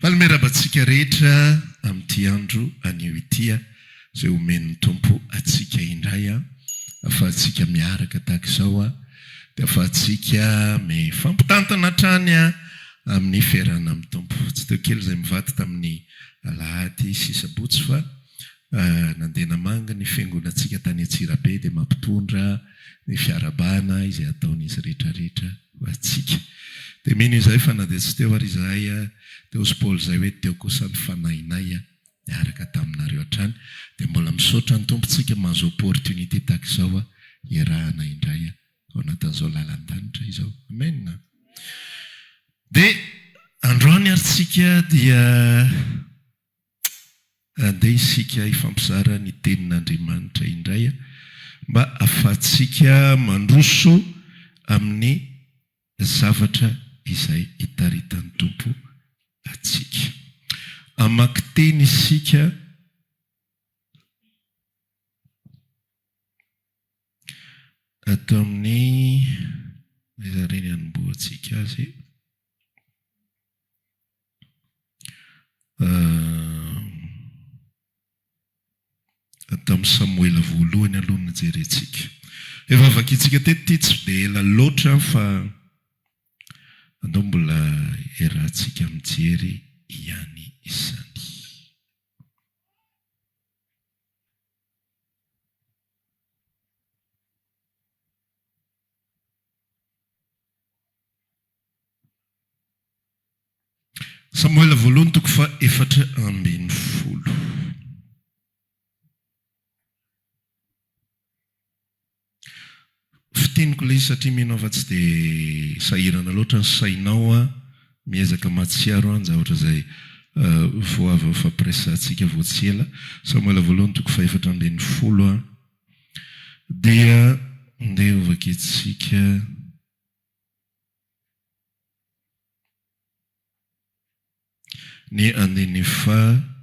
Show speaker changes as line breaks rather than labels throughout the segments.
Manome raba antsika rehetra amin'ity andro anio ity izay omen'ny Tompo antsika indray ahafahantsika miaraka tahaka izao dia ahafahantsika mifampitantana hatrany amin'ny fiarahana amin'ny Tompo. Tsy teo kely izay mivady tamin'ny alahady sy sabotsy fa. nandeha namangy ny fiangonantsika tany Antsirabe dia mampitondra ny fiarahabana izay ataon'izy rehetrarehetra ho antsika. Dia mino izahay fa na dia tsy teo ary izahay teo sy Paul izay hoe teo kosa ny fanahinay niaraka taminareo hatrany. Dia mbola misaotra ny Tompontsika mahazo opportunité tahaka izao hiarahana indray ao anatin'izao lalan-danitra izao. Amen! Dia androany ary tsika dia Andeha isika hifampizara ny Tenin'Andriamanitra indray mba ahafahantsika mandroso amin'ny zavatra izay itaritan'ny Tompo antsika. Hamaky teny isika ato amin'ny. Aiza re ny hanombohantsika azy e? Tamin'ny Samoela voalohany aloha no jerentsika. Efa vakintsika teto ity tsy dia ela loatra fa andao mbola iarahantsika mijery ihany izany. Samoela voalohany toko fahefatra ambin'ny folo. Fiteniko ilay izy satria mino aho fa tsy dia sahirana loatra ny sainao an, miezaka mahatsiaro an, zavatra izay ho avy ao fampiraisantsika vao tsy ela. Samoela voalohany toko fahefatra ambin'ny folo. Dia ndeha hovakintsika ny andininy faha-enina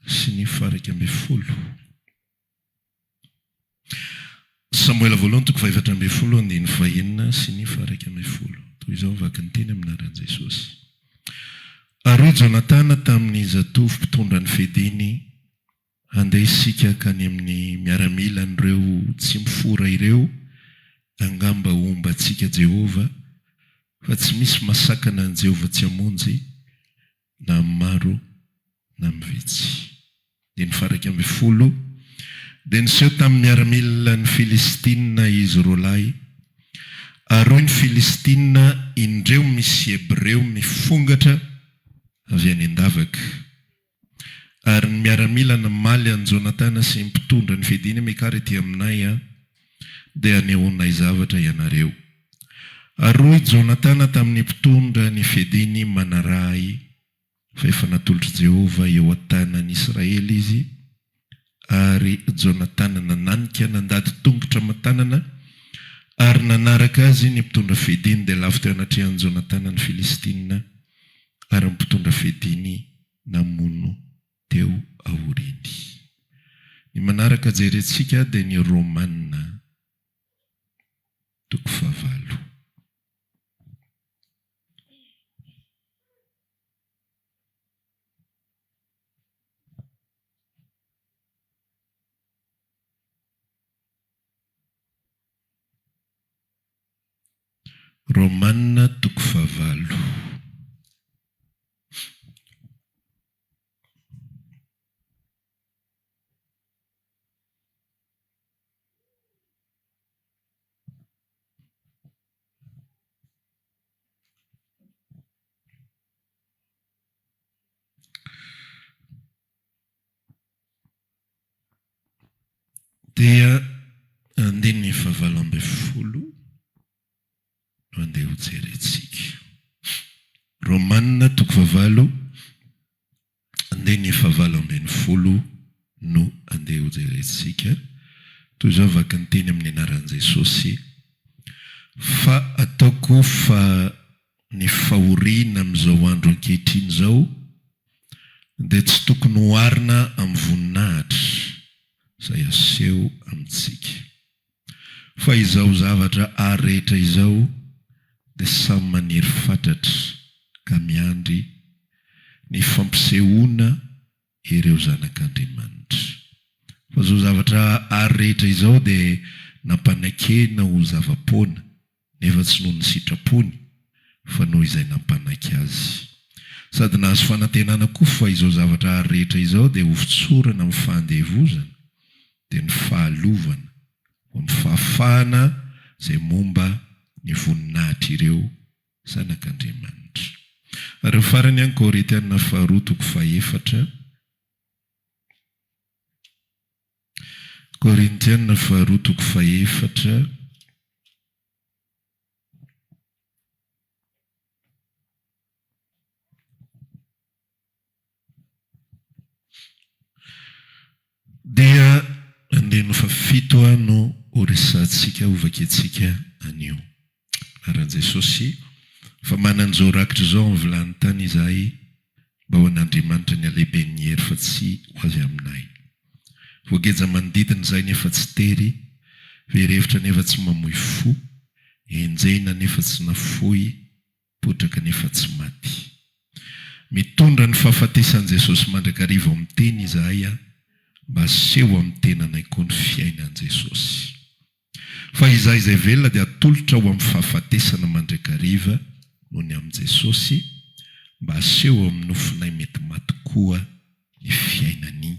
sy ny faha-iraika ambin'ny folo. Samoela voalohany toko fahefatra ambin'ny folo andininy fahenina sy ny faha-iraika ambin'ny folo. Toy izao ny vakin'ny teny amin'ny anaran'i Jesosy, Ary hoy Jonatana tamin'ny zatovo mpitondra ny fediny, Handeha isika hankany amin'ny miaramilan'ireo tsy mifora ireo, angamba homba antsika Jehovah, fa tsy misy masakana an'i Jehovah tsy hamonjy, na amin'ny maro na amin'ny vitsy. Ny fahairaika ambin'ny folo dia niseho tamin'ny miaramilan'ny Filistina izy roa lahy, ary hoy ny Filistina, Indreo misy Hebreo mifongatra avy any an-davaka. Ary ny miaramila namaly an'i Jonatana sy ny mpitondra ny fidiny, Mikara ety aminay, dia hanehoanay zavatra ianareo. Ary hoy Jonatana tamin'ny mpitondra ny fiadiany manaraha ahy, fa efa natolotr'i Jehovah eo an-tanan'i Israely izy, ary Jonatana nananika nandady tongotra aman-tanana ary nanaraka azy ny mpitondra fiadiany, dia lavo teo anatrehan'i Jonatana ny Filistina, ary ny mpitondra fiadiany namono teo aoriany. Ny manaraka jerentsika dia ny Romana toko fahavalo. Romana toko fahavalo. Dia andininy fahavalo ambin'ny folo. Andeha ho jerentsika. Romana toko fahavalo andininy fahavalo ambin'ny folo no andeha ho jerentsika. Toy izao vaky ny teny amin'ny anaran'i Jesosy, Fa ataoko fa ny fahoriana amin'izao andro ankehitriny izao dia tsy tokony hoharina amin'ny voninahitra izay aseho amintsika. Fa izao zavatra ary rehetra izao dia samy maniry fatratra ka miandry ny fampisehoana ireo zanak'Andriamanitra. Fa izao zavatra ary rehetra izao dia nampanakena ho zava-poana. nefa tsy noho ny sitrapony fa noho izay nampanaiky azy. Sady nahazo fanantenana koa fa izao zavatra ary rehetra izao dia hofotsorana amin'ny fahandevozana, dia ny fahalovana ho amin'ny fahafahana izay momba ny voninahitr'ireo zanak'Andriamanitra. Ary ho farany ihany Korinthiana faharoa toko fahefatra. Korintiana faharoa toko fahefatra dia andininy fahafito no horesahantsika, hovakiantsika anio. Rajesosy fa manan'izao rakitra izao amin'ny vilany tany izahay mba ho an'Andriamanitra ny halehiben'ny hery fa tsy ho azy aminay. Voageja manodidina izahay nefa tsy tery, very hevitra nefa tsy mamoy fo, enjehina nefa tsy nafoy, potraka nefa tsy maty. Mitondra ny fahafatesan'i Jesosy mandrakariva ao amin'ny teny izahay mba haseho amin'ny tenanay koa ny fiainan'i Jesosy. Fa izahay izay velona dia atolotra ho amin'ny fahafatesana mandrakariva noho ny amin'i Jesosy mba haseho amin'ny nofonay mety maty koa ny fiainany.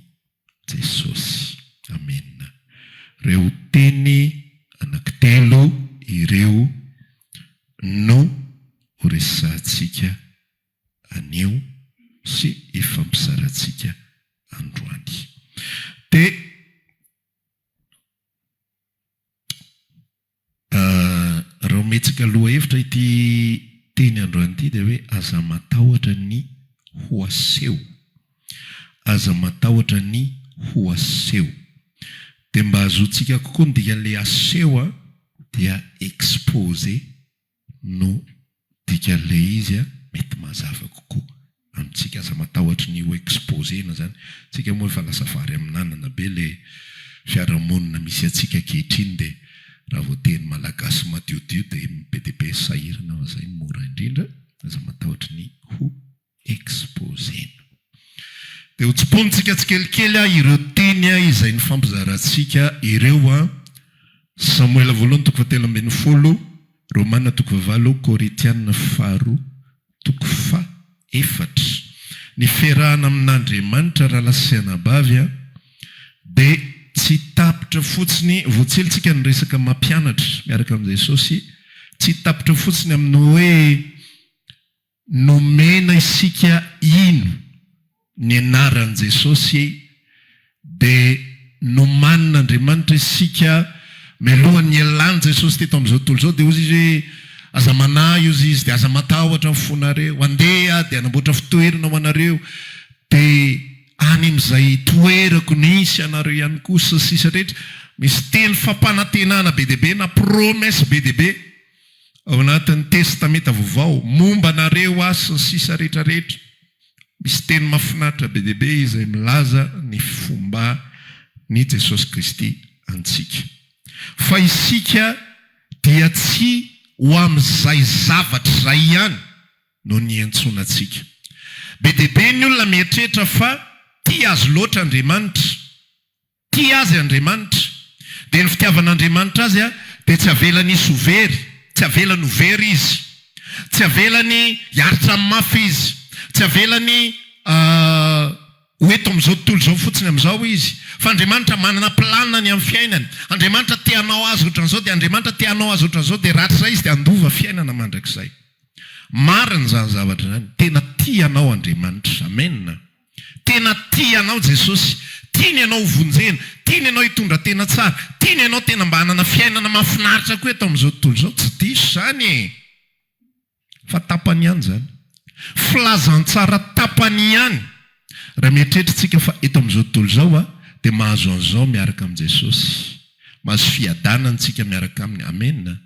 Jesosy. Amen. Reo teny anaky telo ireo no ho resahantsika anio sy hifampizarantsika androany. Dia. Raha ometsika lohahevitra ity teny androany ity dia hoe aza matahotra ny ho aseho. Aza matahotra ny ho aseho. Dia mba hazoantsika kokoa ny dikan'ilay aseho dia exposer. no dikan'ilay izy a, mety mazava kokoa amintsika. Aza matahotra ny ho exposer-na izany. Tsika moa efa lasa vary amin'anana be ilay fiarahamonina misy antsika ankehitriny dia raha vao teny malagasy madiodio dia be dia be ny sahirana fa izay no mora indrindra. Aza matahotra ny ho exposé-na. Dia ho tsiponintsika tsikelikely ireo teny izay nifampizarantsika ireo, Samoela voalohany toko fahatelo ambin'ny folo, Romana toko fahavalo, Korintiana faharoa toko fahefatra. Niferahana amin'Andriamanitra rahalahy sy anabavy dia tsy tapitra fotsiny, voatsilitsika ny resaka mampianatra miaraka amin'i Jesosy, tsy tapitra fotsiny amin'ny hoe Nomena isika hino ny anaran'i Jesosy dia nomanin'Andriamanitra isika mialoha ny hialan'i Jesosy teto amin'izao tontolo izao dia hozy Izy hoe, Aza manahy hozy Izy dia aza matahotra ny fonareo, andeha Aho dia hanamboatra fitoerana ho anareo dia any amin'izay toerako nisy anareo ihany koa sy ny sisa rehetra. Misy teny fampanantenana be dia be na promesse be dia be. ao anatin'ny testamenta vaovao, momba anareo aho sy ny sisa rehetra rehetra, misy teny mafinaritra be dia be izay milaza ny fomba ny Jesosy Kristy antsika. Fa isika dia tsy ho amin'izay zavatra izay ihany no niantsoana antsika. Be dia be ny olona mieritreritra fa tia azy loatra Andriamanitra. Tia azy Andriamanitra. Dia ny fitiavan'Andriamanitra azy dia tsy avelany hisy ho very, tsy avelany ho very izy. Tsy avelany hiaritra amin'ny mafy izy. Tsy avelany ho eto amin'izao tontolo izao fotsiny amin'izao izy. Fa Andriamanitra manana planiny amin'ny fiainany. Andriamanitra te hanao azy ohatran'izao, dia Andriamanitra te hanao azy ohatran'izao, dia rahatrizay izy dia handova fiainana mandrakizay. Marina izany zavatra izany. Tena tia anao Andriamanitra. Amena. Tena tia anao Jesosy. Tiany ianao ho vonjena. Tiany ianao hitondra tena tsara. Tiany ianao tena mba hanana fiainana mahafinaritra koa eto amin'izao tontolo izao. Tsy diso izany e! Fa tapany ihany izany. Filazantsara tapany ihany. Raha mieritreritrtsika fa eto amin'izao tontolo izao aho dia mahazo an'izao miaraka amin'i Jesosy. Mahazo fiadanana tsika miaraka Aminy. Amena.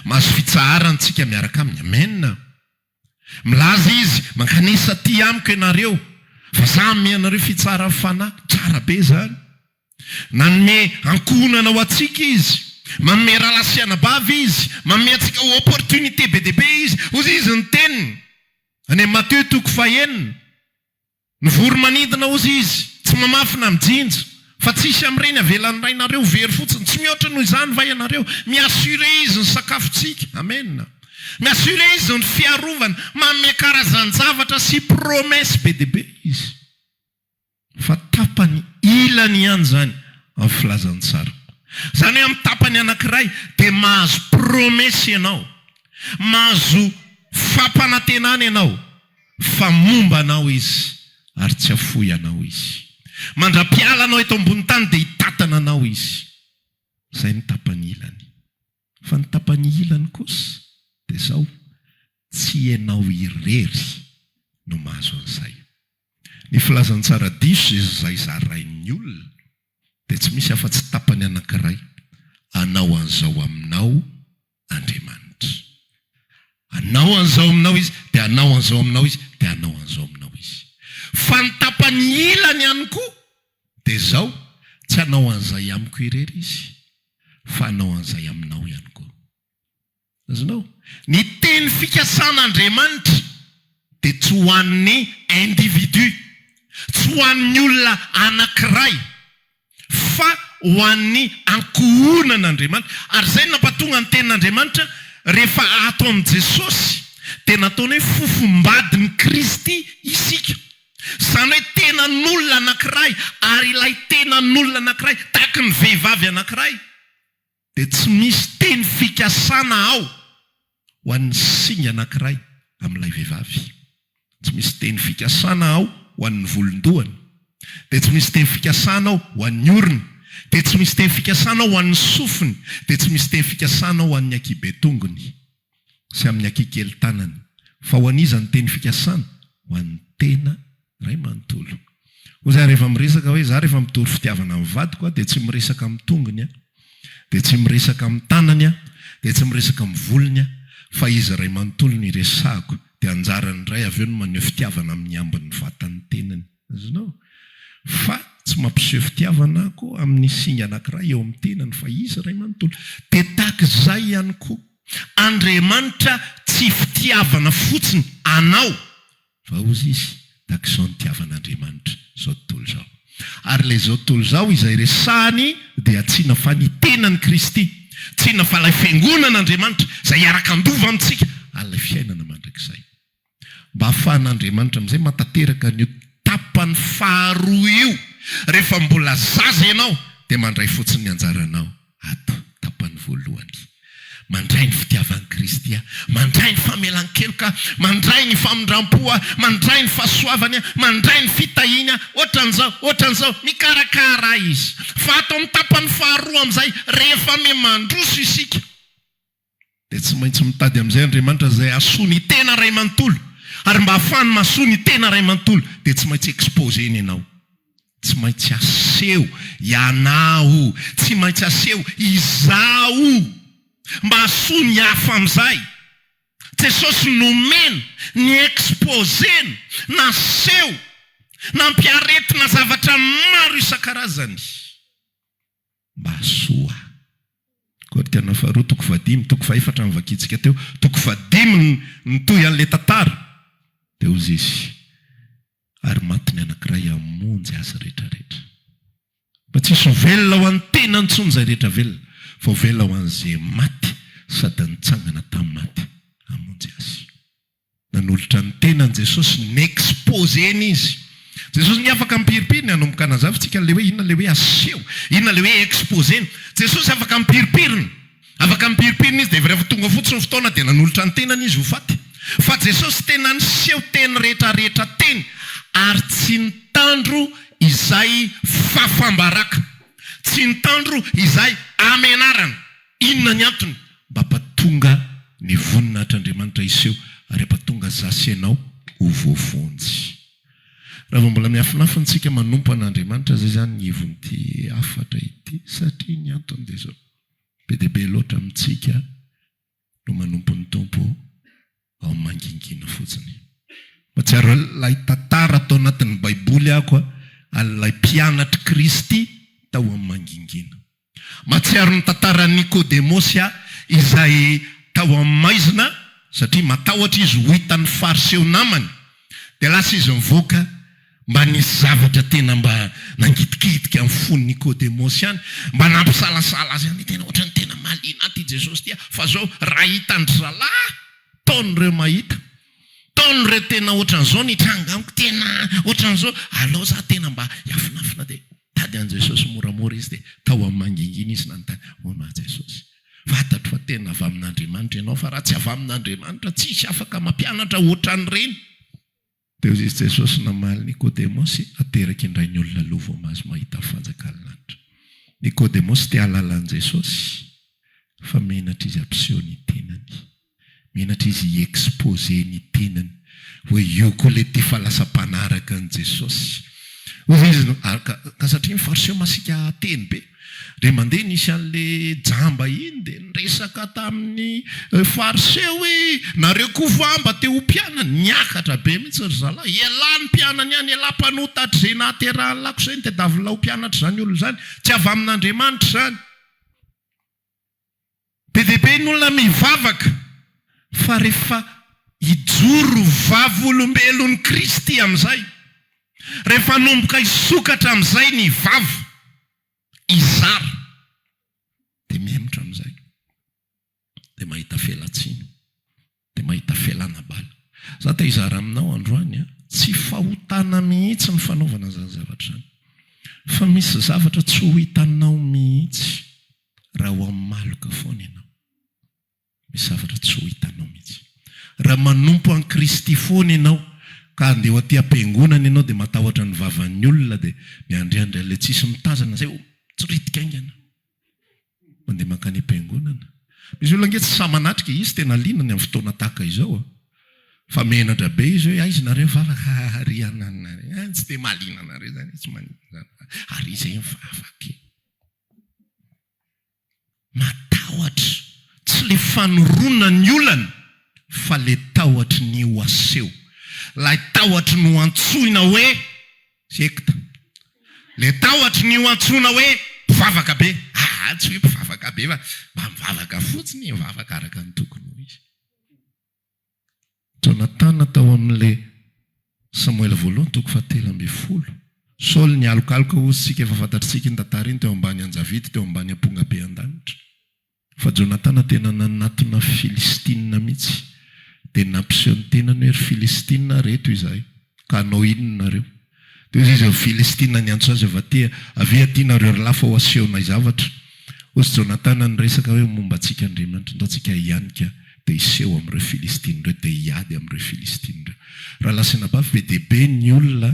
Mahazo fitsaharana tsika miaraka Aminy. Amena. Milaza izy, Mankanesa aty amiko ianareo, fa za hanome anareo fitsaran'ny fanahy. Tsara be izany! Nanome ankohonana ho antsika Izy. Manome rahalahy sy anabavy Izy. Manome antsika opportunité be dia be Izy. Hoy Izy ny Teniny, any amin'ny Mateo toko fahenina. Mivory manidina ozy izy, tsy mamafy na mijinja. Fa tsisy amin'ireny avelan'ny Rainareo very fotsiny. Tsy mihoatra noho izany va ianareo? Mi-assurer Izy ny sakafontsika. Amen. Mi-assurer Izy ny fiarovana. Manome karazan-javatra sy promesse be dia be Izy. Fa tapany ilany ihany izany amin'ny filazan'ny tsara. Izany hoe amin'ny tapany anankiray dia mahazo promesse ianao. Mahazo fampanantenana ianao. Fa momba anao izy, ary tsy hafoy anao izy. Mandra-piala anao eto ambony tany dia hitatana anao izy. Izay ny tapany ilany. Fa ny tapany ilany kosa dia izao, tsy ianao irery no mahazo an'izay. Ny filazantsara diso izay zarain'ny olona dia tsy misy afa-tsy tapany anankiray, anao an'izao aminao Andriamanitra. Hanao an'izao aminao Izy, dia hanao an'izao aminao Izy, dia hanao an'izao aminao Izy. Fa ny tapany ilany ihany koa dia izao, tsy hanao an'izay amiko irery Izy, fa hanao an'izay aminao ihany koa. Azonao? Ny teny fikasan'Andriamanitra dia tsy ho an'ny individu, tsy ho an'ny olona anankiray. fa ho an'ny ankohonan'Andriamanitra. Ary izay no nampatonga ny tenin'Andriamanitra rehefa ato amin'i Jesosy dia nataony hoe fofombadin'i Kristy isika. Izany hoe tenan'olona anankiray ary ilay tenan'olona anankiray tahaka ny vehivavy anankiray. dia tsy misy teny fikasana ao ho an'ny singa anankiray amin'ilay vehivavy. Tsy misy teny fikasana ao ho an'ny volon-dohany, dia tsy misy teny fikasana ao ho an'ny orony, dia tsy misy teny fikasana ao ho an'ny sofiny, dia tsy misy teny fikasana ao ho an'ny ankihiben-tongony. sy amin'ny akikely tanana. Fa ho an'iza ny teny fikasana? Ho an'ny tena iray manontolo. Hoy izahay rehefa miresaka hoe, izaho rehefa mitory fitiavana ny vadiko aho dia tsy miresaka amin'ny tongony aho, dia tsy miresaka amin'ny tanany aho, dia tsy miresaka amin'ny volony aho, fa izy iray manontolo no iresahako. Dia anjaran'ny ray avy eo ny maneho fitiavana amin'ny ambin'ny vatan'ny tenany. Azonao? Fa tsy mampiseho fitiavana aho amin'ny singa anankiray eo amin'ny tenany fa izy Ray manontolo. Dia tahaka izay ihany koa, Andriamanitra tsy fitiavana fotsiny anao fa hozy izy, tahaka izao ny tiavana Andriamanitra izao tontolo izao. Ary ilay izao tontolo izao izay resahany dia tsina fa ny tenan'i Kristy, tsina fa ilay fiangonan'Andriamanitra izay hiaraka handova amintsika han'ilay fiainana mandrakizay. Mba hahafahan'Andriamanitra amin'izay matateraka an'io tapany faharoa io rehefa mbola zaza ianao dia mandray fotsiny ny anjaranao ato, tapany voalohany. Mandray ny fitiavan'i Kristy aho, mandray ny famelan-keloka aho, mandray ny famindram-po aho, mandray ny fahasoavany aho, mandray ny fitahiany aho, ohatran'izao, ohatran'izao, mikarakara ahy Izy. Fa ato amin'ny tapany faharoa amin'izay, rehefa miha-mandroso isika, Dia tsy maintsy mitady amin'izay Andriamanitra izay hahasoa ny tena iray manontolo. Ary mba hahafahany mahasoa ny tena iray manontolo dia tsy maintsy exposer-ny ianao. Tsy maintsy aseho ianao. Tsy maintsy aseho izaho mba hahasoa ny hafa amin'izay. Jesosy nomena, ni-exposer-ny, naseho, nampiaretina zavatra maro isan-karazany. Mahasoa. Koa tena faharoa toko fahadimy, toko fahefatra novakintsika teo, toko fahadimy ny nitohy an'ilay tantara, dia hozy izy, Ary maty ny anankiray hamonjy azy rehetra rehetra. Mba tsy hisy ho velona ho an'ny tenany intsony izay rehetra velona, fa ho velona ho an'izay maty sady nitsangana tamin'ny maty hamonjy azy. Nanolotra ny tenany Jesosy, ni-exposer-ny izy. Jesosy nge afaka mipiripiry ny hanomboka hanazava antsika an'ilay hoe inona ilay hoe aseho, inona ilay hoe exposer-ny. Jesosy afaka mipiripirina. Afaka mipiripirina izy dia avy rehefa tonga fotsiny ny fotoana dia nanolotra ny tenany izy ho faty. Fa Jesosy tena niseho teny rehetra rehetra teny ary tsy nitandro izay fafam-baraka, tsy nitandro izay hamenarana. Inona ny antony? Mba hampatonga ny voninahitr'Andriamanitra hiseho ary hampatonga za sy ianao ho voavonjy. Raha vao mbola miafinafina isika manompo an'Andriamanitra izay izany ny hevon'ity hafatra ity satria ny antony dia izao, be dia be loatra amintsika no manompo ny Tompo ao mangingina fotsiny. Mahatsiaro an'ilay tantara tao anatin'ny Baiboly aho koa, an'ilay mpianatr'i Kristy tao amin'ny mangingina. Mahatsiaro ny tantaran'i Nikodemosy aho, izay tao amin'ny maizina, satria matahotra izy ho hitan'ny Fariseo namany, dia lasa izy nivoaka. Mba nisy zavatra tena mba nangitikitika ny fon'i Nikodemosy ihany, mba nampisalasala azy ihany hoe tena ohatran'ny tena mahaliana ahy ity Jesosy ity aho, fa izao raha hitan-dry zalahy taony ireo mahita, taony ireo tena ohatran'izao nitranga amiko, tena ohatran'izao, aleo za tena mba hiafinafina dia hitady an'i Jesosy moramora izy dia tao amin'ny mangingina izy nanontany, hono aho Jesosy, fantatro fa tena avy amin'Andriamanitra ianao fa raha tsy avy amin'Andriamanitra tsisy afaka mampianatra ohatran'ireny. Teo izy Jesosy namaly Nikodemosy ateraky indray ny olona aloha vao mahazo mahita ny fanjakan'ny lanitra. Nikodemosy te hahalala an'i Jesosy fa menatra izy hampiseho ny tenany. Menatra izy hi exposer ny tenany hoe io koa ilay ty fa lasa mpanaraka an'i Jesosy. Hoy izy ary ka satria ny fariseo masiaka teny be. Dia mandeha nisy anle jamba iny dia niresaka tamin'ny Farse hoe nareo koa va mba te ho mpianany? Niakatra be mihitsy ry zalahy. Elah ny mpianany any, elah mpanota hatr izay nahaterahan'ny lakosa iny, tadiavin'lah ho mpianatra izany olona izany. Tsy avy amin'Andriamanitra izany. Be dia be ny olona mivavaka fa rehefa hijoro vavolombelon'i Kristy amin'izay, rehefa hanomboka hisokatra amin'izay ny vava, hizara, dia mihemotra amin'izay, dia mahita felatsiana. Dia mahita fialana bala. Za te hizara aminao androany a, tsy fahotana mihitsy ny fanaovana izany zavatra izany. Fa misy zavatra tsy ho hitanao mihitsy raha ho amin'ny maloka foana ianao. Misy zavatra tsy ho hitanao mihitsy. Raha manompo an'i Kristy foana ianao, ka andeha ho aty am-piangonana ianao dia matahotra ny vavan'ny olona dia miandriandry an'ilay tsisy mitazana izay ho tsiritika haingana. Mandeha mankany am-piangonana. Misy olona ange tsy sahy manatrika, izy tena liana ny amin'ny fotoana tahaka izao a! Fa menatra be izy hoe, aiza ianareo vavaka? Haha ary hiananareo a! Tsy dia mahaliana anareo izany e, tsy maninona izany fa ary iza e mivavaka e? Matahotra, tsy ilay fanorona ny olana fa ilay tahotry ny ho aseho, ilay tahotry ny ho antsoina hoe. Sekta. Le tahotry ny ho antsoina hoe mpivavaka be. Aa tsy hoe mpivavaka be fa mba mivavaka fotsiny e, mivavaka araka ny tokony ho izy. Jonatana tao amin'le Samoela voalohany toko fahatelo ambin'ny folo. Saoly nialokaloka hoy isika efa fantatr'isika iny tantara iny teo ambany anjavidy teo ambany ampongabe an-danitra. Fa Jonatana tena nanatona Filistina mihitsy, dia nampiseho ny tenany hoe, Ry Filistina, ary eto izahay, ka hanao inona nareo? Dia hoy izy amin'ny Filistina niantso azy avy aty, Avia aty nareo ry lahy fa ho asehonay zavatra. Hoy Jonatana niresaka hoe, Momba antsika Andriamanitra, ndao tsika hianika, dia hiseho amin'ireo Filistina ireo, dia hiady amin'ireo Filistina ireo. Raha lasanabavy be dia be ny olona,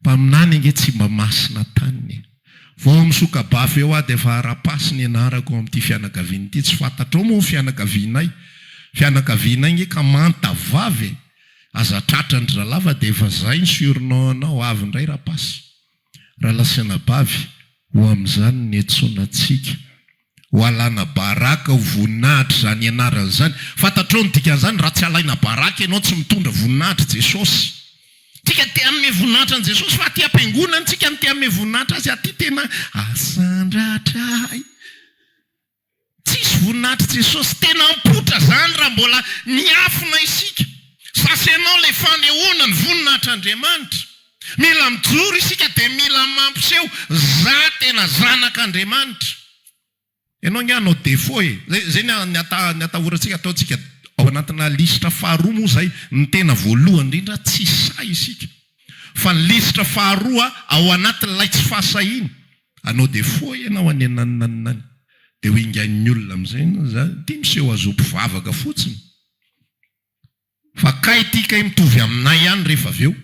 Mpaminany ange tsy mba masina taniny e! Vao misoka-bafy eo aho dia efa ara-paso ny anarako ao amin'ity fianakaviana ity. Tsy fantatrao moa ny fianakavianay? Fianakavianay ange ka manta vava e! Aza tratran-dry ralava dia efa izay ny surnom anao avy indray Rapasy. Ralasanabavy, ho amin'izany niantsoana antsika, ho alàna baraka ho voninahitra izany anarany izany. Fantatrao ny dikan'izany, raha tsy alaina baraka ianao, tsy mitondra voninahitr'i Jesosy. Tsika te hanome voninahitra an'i Jesosy, fa aty am-piangonana tsika no te hanome voninahitra Azy, aty tena asandratra ahy. Tsisy voninahitr'i Jesosy tena mipoitra izany raha mbola miafina isika. Sasa ianao ilay fanehoana ny voninahitr'Andriamanitra. Mila mijoro isika dia mila mampiseho, za tena zanak'Andriamanitra. Ianao ange hanao défaut e. Zay zay ny atahorantsika ataontsika ao anatina lisitra faharoa moa izay ny tena voalohany indrindra tsy sahy isika. Fa ny lisitra faharoa ao anatin'ilay tsy fahasahiana. Anao dia foa ianao any anananina any dia ho ingain'ny olona amin'izay ianao za ity miseho azo mpivavaka fotsiny fa kay ity kay mitovy aminay ihany rehefa avy eo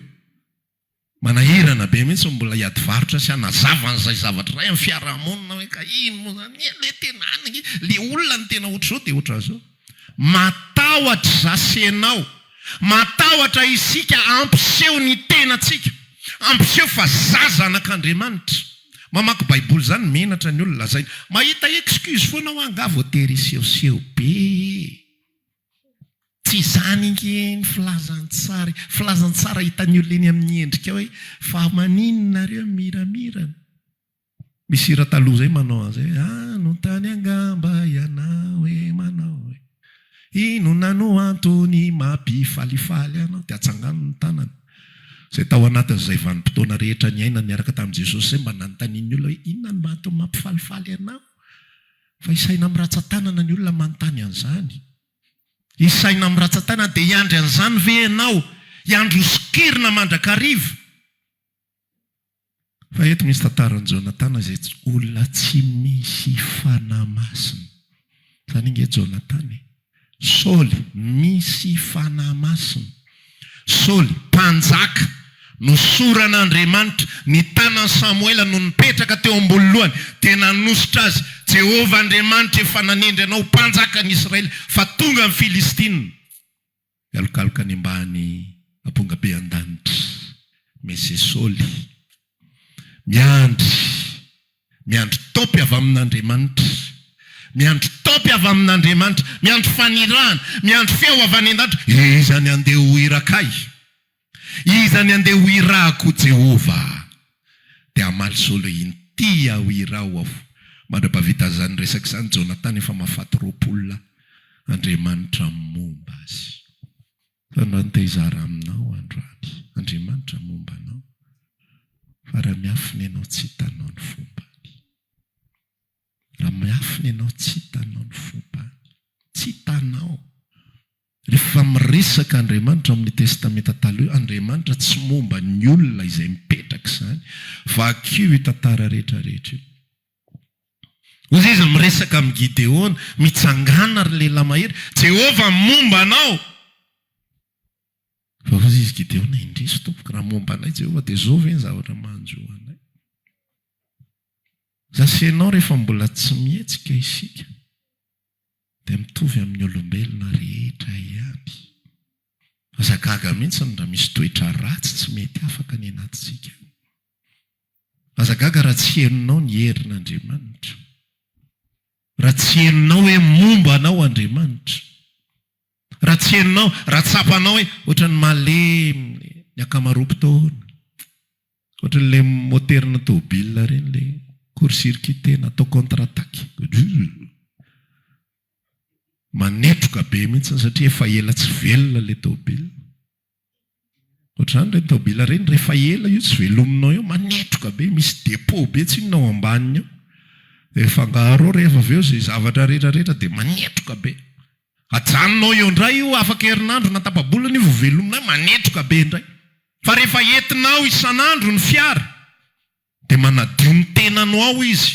manahirana be mihitsy ny mbola hiady varotra sy hanazava an'izay zavatra izay amin'ny fiarahamonina hoe ka ino moa izany le tena any le olona no tena ohatr'izao dia ohatr'izao Matahotra izaho sy ianao. Matahotra isika hampiseho ny tenantsika, hampiseho fa izaho zanak'Andriamanitra. Mamaky Baiboly izany menatra ny olona lazaina. Mahita excuse foana aho angaha vao tery hisehoseho be ee. Tsy izany ange ny filazantsara e. Filazantsara hitan'ny olona eny amin'ny endrika ao hoe, fa maninona nareo miramirana? Misy hira taloha zay manao an'zay hoe, anontany angamba ianao hoe manao hoe inona no antony mampifalifaly anao, dia atsangano ny tanana zay tao anatin'izay vanim-potoana rehetra niainany niaraka tamin'i Jesosy izay mba nanontanian'ny olona hoe inona no antony mampifalifaly anao? Fa isaina miratsa-tanana ny olona manontany an'izany. Isaina miratsa-tanana, dia hiandry an'izany ve ianao? Hiandry ho sokirina mandrakariva? Fa eto misy tantaran'i Jonatana izay olona tsy misy fanahy masina. Izany ange Jonatana e! Saoly misy fanahy masina. Saoly mpanjaka nosoran'Andriamanitra, ny tanan'i Samoela no nipetraka teo ambony lohany dia nanosotra azy, Jehovah Andriamanitra efa nanendry anao ho mpanjakan'i Israely fa tonga ny Filistina. Mialokaloka any ambany amponga be an-danitra. Mese Soly. Miandry. Miandry taopy avy amin'Andriamanitra. Miandry taopy avy amin'Andriamanitra. Miandry fanirahana. Miandry feo avy any an-danitra. Iza ny handeha ho hira kay? Iza ny andeha ho irako Jehovah Dia hamaly solo Inty aho iraho aho Mandra-pahavita izany resaka izany Jonathan efa mahafaty roapolo lahy Andriamanitra momba azy Fa anao ny te hizara aminao androany Andriamanitra momba anao Fa raha miafina ianao tsy hitanao ny fombany Raha miafina ianao tsy hitanao ny fombany Tsy hitanao Rehefa miresaka Andriamanitra amin'ny Testamenta Taloha, Andriamanitra tsy momba ny olona izay mipetraka izany. Vakio io tantara rehetra rehetra io. Hoy izy miresaka amin'i Gideona, Mitsangàna, ry lehilahy mahery, Jehovah momba anao. Fa hoy izy Gideona, Indrisy, tompoko, raha momba anay Jehovah, dia izao ve ny zavatra manjo anay? Izaho sy ianao rehefa mbola tsy mihetsika isika. Dia mitovy amin'ny olombelona rehetra ihany. Aza gaga mihitsy raha misy toetra ratsy tsy mety afaka any anatintsika any. Aza gaga raha tsy henonao ny herin'Andriamanitra. Raha tsy henonao hoe momba anao Andriamanitra. Raha tsy henonao, raha tsapanao hoe ohatran'ny malemy le ny ankamaroam-potoana, ohatran'le moteran'ny tôbila ireny le court circuite na atao contre attaque, manetroka be mihitsy satria efa ela tsy velona le tôbila. Ohatr'izany ireny taobila ireny, rehefa ela io tsy velominao eo, manetroka be, misy dépôt be tsy inona ao ambaniny ao. Dia fangaro ao rehefa avy eo izay zavatra rehetrarehetra dia manetroka be. Ajanonao eo indray io, afaka herinandro na tapa-bolana io vao velomina, manetroka be indray. Fa rehefa entinao isan'andro ny fiara. Dia manadio ny tenano ao izy,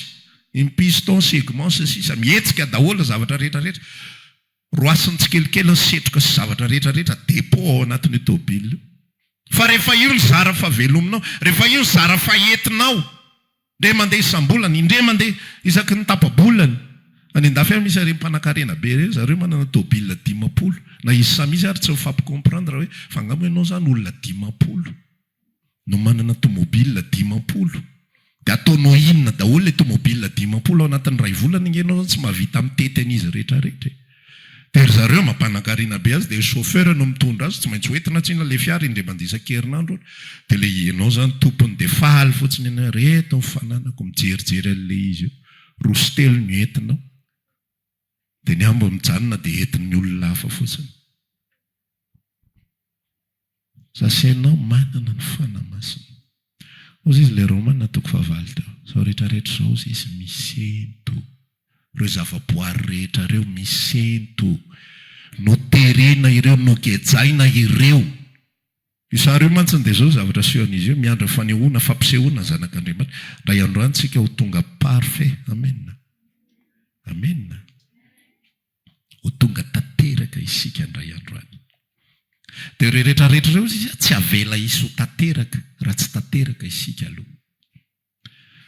ny pistons, segments, sy ny sisa Mihetsika daholo ny zavatra rehetra rehetra Roasiny tsikelikely ny setroka sy zavatra rehetra rehetra Dépôt ao anatin'io tôbily io Fa rehefa io ny zara fahavelominao, rehefa io ny zara fahetinao Indray mandeha isam-bolana, indray mandeha isaky ny tapa-bolany Any an-dafy any misy ireny mpanakarena be ireny, zareo manana tôbily dimampolo Na izy samy izy ary tsy mifampicomprendre hoe, fa nga moa ianao zany olona dimampolo? no manana tomobil dimampolo de ataonao inona daholo le tomobil dimampolo ao anatin'ny iray volana nge enao zany tsy mahavita mitety an'izy rehetra rehetra e! de ry zareo mampanankarina be azy de chauffeur no mitondra azy tsy maintsy ho entina tsinona le fiara indray mandeha isan-kerinandro ony de le enao zany tompony de faly fotsiny enao reto ny fananako mijerijery an'le izy eo roa sy telo no entinao Dia ny ambo mijanona dia entin'ny olona hafa fotsiny. Za sy ianao manana ny Fanahy Masina. Hozy izy ilay Romana toko fahavalo teo, izao rehetra rehetra izao hozy izy misento. Ireo zava-boary rehetra ireo misento. Noterena ireo, nogejaina ireo. Io sary io mantsiny dia izao ny zavatra asehon'izy io, miandry fanehoana, fampisehoana ny zanak'Andriamanitra. Indray andro any tsika ho tonga parfait. Amena. Amena. Ho tonga tanteraka isika indray andro any. Dia ireo rehetra rehetra ireo, tsy avela hisy ho tanteraka, raha tsy tanteraka isika aloha.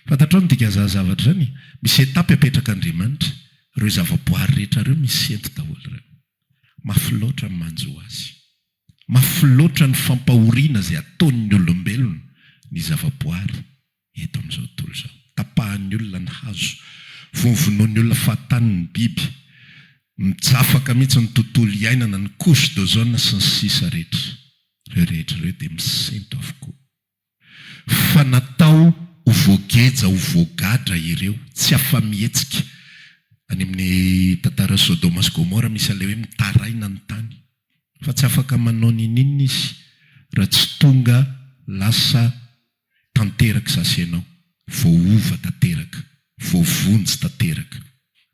Fantatrao ny dikan'izany zavatra izany e? Misy etapy apetraka Andriamanitra, ireo zavaboary rehetra ireo misy sento daholo ireo. Mafy loatra ny manjo azy. Mafy loatra ny fampahoriana izay ataon'ny olombelona ny zavaboary eto amin'izao tontolo izao. Tapahan'ny olona ny hazo, vonovonoin'ny olona fahatany ny biby, mijafaka mihitsy ny tontolo iainana, ny couche d'ozone sy ny sisa rehetra. Ireo rehetra ireo dia misento avokoa. Fa natao ho voageja ho voagadra ireo, tsy afa-mihetsika. Any amin'ny tantaran'i Sodoma sy Gomora misy an'ilay hoe mitaraina ny tany. Fa tsy afaka manao ninininona izy raha tsy tonga lasa tanterak'izaho sy ianao. voaova tanteraka, voavonjy tanteraka.